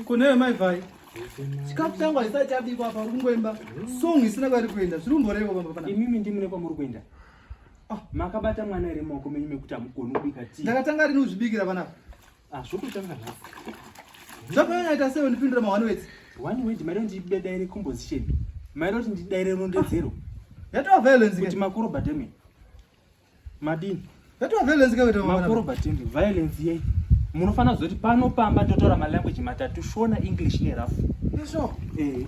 Kunewe mai vhai. Chikafu changu haisati chabikwa apa uri kungoimba. Song isina kwari kuenda. Zviri kumborevo baba pana. Imimi ndimi ne kwamuri kuenda. Ah, makabata mwana ere maoko menyu mekuti amugoni kubika tii. Ndakatanga rini kuzvibikira panapa. Ah, zvokutanga nhasi. Zvakanyanya ita sei ndipindura ma one words. One word mari ndibeda ere composition. Mari kuti ndidaire rondedzero. Yatova violence kuti makuru bademi. Madini? Yatova violence kaweta mama. Makuru batini violence yei? Munofanira kuzoti pano pamba ndotora ma language matatu Shona, English ne rough. Yesho. Eh.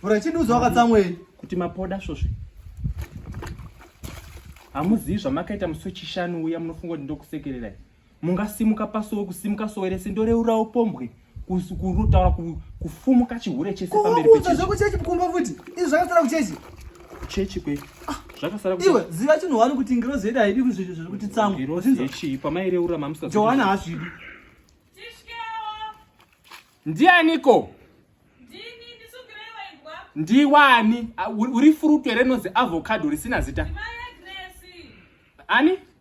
Bora chini uzo wakatsamwe kuti mapoda svosve. Hamuzivi zvamakaita musi wechishanu uya munofunga kuti ndokusekererai. mungasimuka pasowe kusimuka sowe rese ndoreurawo pombwe kutaura kufumuka chihure chese pamberi pechechi zvekuchechi kumba futi izvi zvakasara kuchechi kuchechi kwe ah, zvakasara iwe ziva chinhu wani kuti ngirozi yedu haidi kuzvizvi zviri kuti tsamwa ngirozi yechii pamaireura mamusa johana hazvidi ndianiko ndiwani uri fruit here rinonzi avocado risina zita ani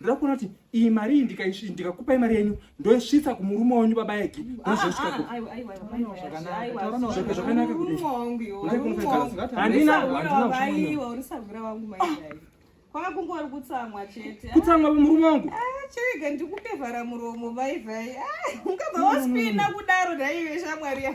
ndoda kuona kuti iyi mari iyi ndikakupai mari yenyu ndoisvitsa kumurume wenyu baba egi nozvakanakwakungorikutsamwa chete kutsamwa murume wangu chirega ndikupe vhara muromo vaivhai ungabva waspina kudaro daive shamwari ya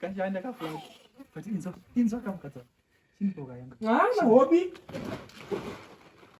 kashanda kafuna but inzwa inzwa kamukadza chini boka yanga ah hobi